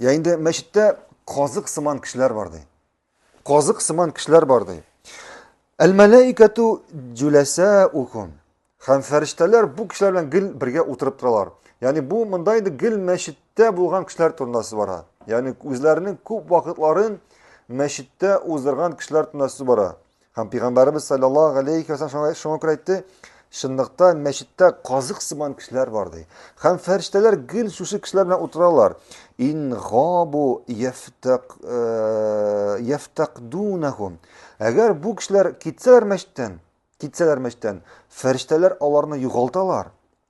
Я инде мәчеттә казык сыман кешеләр бар ди. Казык сыман кешеләр бар ди. Әл-мәләикәту җүләсәукум. Һәм фәрештәләр бу кешеләр белән гел бергә утырып торалар. Ягъни бу монда инде гел мәчеттә булган кешеләр турында сүз бара. Ягъни үзләренең күп вакытларын мәчеттә уздырган кешеләр турында сүз бара. Һәм Пәйгамбәребез саллаллаһу галәйһи ва саллям шуңа күрә әйтте, чынлыкта мәчеттә казык сыман кешеләр бар ди. Һәм фәрештәләр гел шушы кешеләр белән утыралар. Ин габу яфтак э, яфтакдунахум. Әгәр бу кешеләр китсәләр мәчеттән, китсәләр мәчеттән, фәрештәләр аларны югалталар.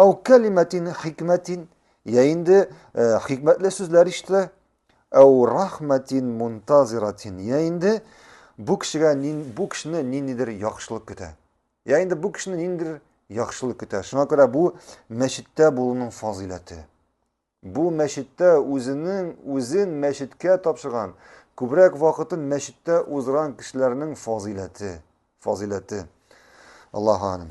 Ау кәлимәтин хикмәтин, я инде хикмәтле сүзләр ишетә, ау рахмәтин мунтазиратин, я инде бу кешегә бу кешене ниндидер яхшылык көтә. Я инде бу кешене ниндидер яхшылык көтә. Шуңа күрә бу мәчеттә булуның фазыйләте. Бу мәчеттә үзенең үзен мәчеткә тапшырган, күбрәк вакытын мәчеттә уздырган кешеләрнең фазыйләте, фазыйләте. Аллаһу